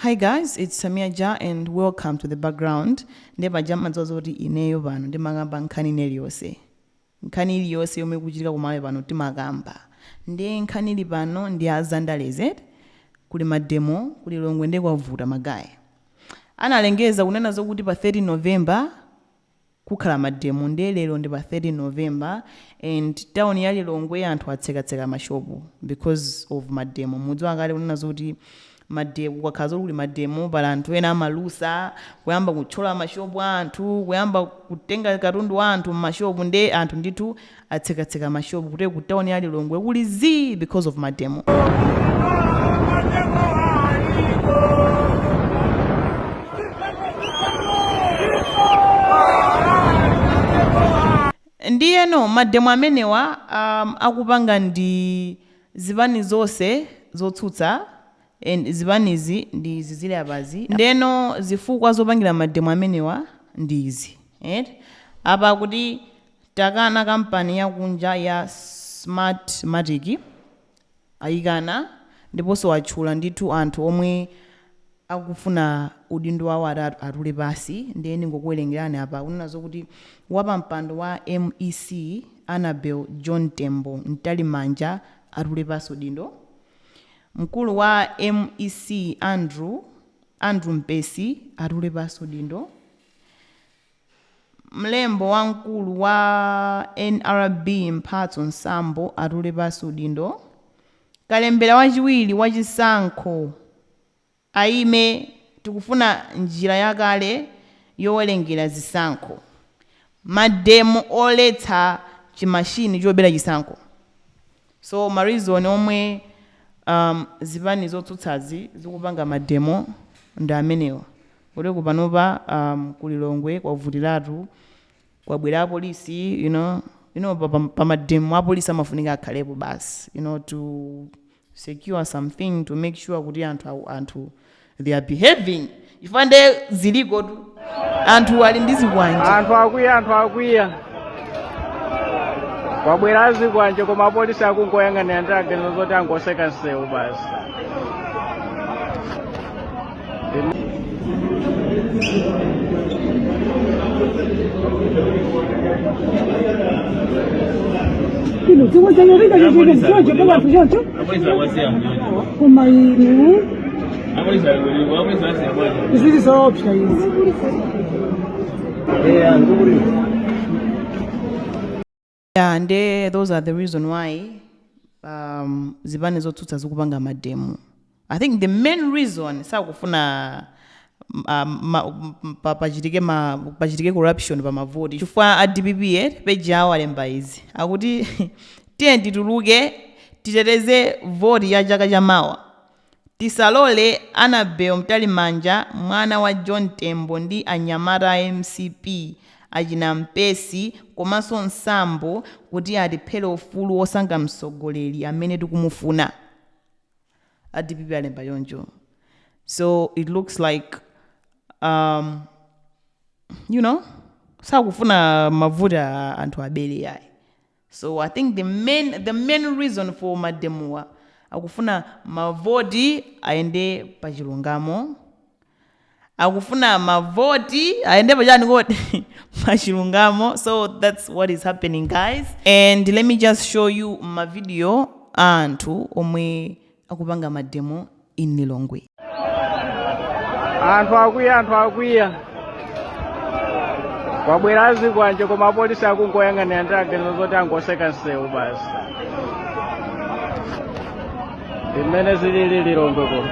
Hi guys, it's Samia Ja and welcome to the background. Nde paja mumadziwa zoti ineyo pano ndimakamba nkhani ina iliyonse. Nkhani iliyonse yomwe ikuchitika kumalawi pano timakamba. Nde nkhani ili pano ndi ya zandale zedi kuli mademo ku Lilongwe nde kwavuta magaye. Analengeza kunena zokuti pa 13 November kukhala mademo nde lero ndi pa 13 November and town ya Lilongwe anthu atsekatseka ma shop because of mademo mukudziwa kale kunena zoti mademo kukakhala zoti kuli mademo pali anthu ena amalusa kuyamba kutchola ma shop a anthu kuyamba kutenga katundu wa anthu m'ma shop nde anthu ndithu atsekatseka mashopu kuti ku town ya lilongwe kuli zii because of mademo ndiyeno mademo amenewa um, akupanga ndi zipani zonse zotsutsa and zipanizi ndi izi zili apazi ndeno zifukwa zopangira mademo amenewa ndi izi right? apa kuti Takana kampani yakunja ya Smart Matic ayikana ndiponso watchula ndithu anthu omwe akufuna udindo wawo ati atule pansi ndiye ndingokuwerengerani apa akunena zokuti wapampando wa mec Annabel John Tembo Mtalimanja atule pansi udindo, mkulu wa mec Andrew Andrew Mpesi atule pansi udindo, Mlembo wamkulu wa nrb Mphatso Sambo atule pansi udindo, kalembera wachiwiri wa chisankho ayime tikufuna njira yakale yowerengera zisankho, mademo oletsa chi machine chobera chisankho. So ma reason omwe um zipani zotsutsazi zikupanga ma demo ndi amenewa. Kuti ku panopa um ku Lilongwe kwavutiratu, kwabwera a police you know, you know pa pa pa ma demo a police amafunika akhalepo basi you know to secure something to make sure kuti anthu anthu they are behaving chifukwa nde zilikotu anthu ali ndi zikwanje anthu akwiya anthu akwiya kwabwera azikwanje koma apolisi akungoyang'anira nde aganiza zoti angotseka msewu basi Kino, chomwe chanyarika chachika mchocho kwa watu chocho. Koma inu Zili zoopsa izi. Yeah, and uh, those are the reason why um, zipani zotsutsa zikupanga mademo i think the main reason sakufuna um, ma- m- pa- pachitike ma- pachitike corruption pa mavoti chifukwa a dpp eh, peji awo alemba izi akuti tiyeni tituluke titeteze voti ya chaka cha mawa Tisalole Anabel Mtalimanja mwana wa John Tembo ndi anyamata a mcp achina Mpesi komanso Msambo kuti atiphere ufulu wosankha mtsogoleri amene tikumufuna. A dpp alemba choncho so it looks like um you know sakufuna mavoti anthu abere yayi. So I think the main reason for mademowa akufuna mavoti ayende pa chilungamo akufuna mavoti ayende pa chani kodi pa chilungamo so that's what is happening guys and let me just show you mavidiyo a anthu omwe akupanga mademo in lilongwe anthu akwiya anthu akwiya kwabwera azikwanje koma apolisi akungoyang'anira ndiye aganiza zoti angoseka msewu basi ndimene zilili lilongwe kuno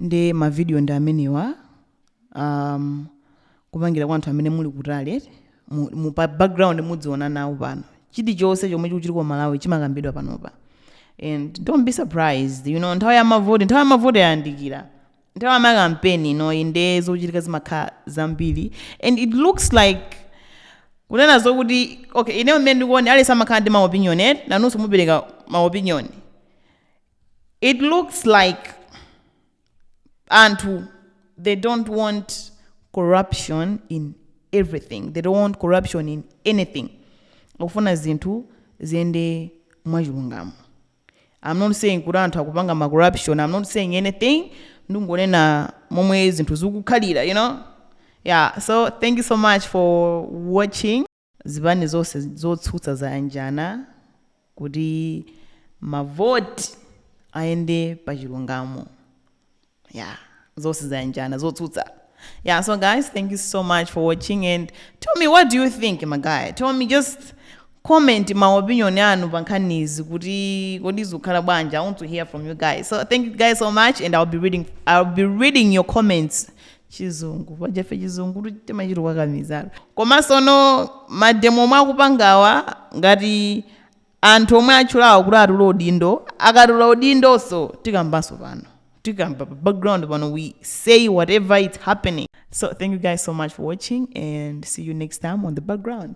nde mavidiyo ndi amenewa um, kupangira kwa anthu amene muli kutali eti mu, mu, pa background mudziona nawo pano chilichonse chomwe chikuchitika ku malawi chimakambidwa panopa and don't be surprised you know nthawi ya mavoti nthawi ya mavoti yayandikira nthawi ya makampeni inoyi nde zochitika zimakhala zambiri and it looks like kunena zokuti okay ineyo mmene ndikuonera aliyense amakhala ndi maopinion eti nanunso mupereka maopinion it looks like anthu they don't want corruption in everything they don't want corruption in anything akufuna zinthu ziyende mwachilungamo i'm not saying kuti anthu akupanga ma corruption i'm not saying anything ndikungonena momwe zinthu zikukhalira you know yeah so thank you so much for watching Zipani zonse zotsutsa zayanjana kuti ma vote ayende pa chilungamo yeah zonse zayanjana zotsutsa yeah so guys thank you so much for watching and tell me what do you think magaye tell me just comment ma opinion anu pa nkhanizi kuti kodi zikukhala bwanji i want to hear from you guys so thank you guys so much and i'll be reading i'll be reading your comments chizungu paja ife chizunguchi timachita kukakamizatu komansono mademo omwe akupangawa ngati anthu omwe atchulawa kuti atule udindo akatula udindonso tikambanso pano tikamba pa background pano we say whatever is happening so thank you guys so much for watching and see you next time on the background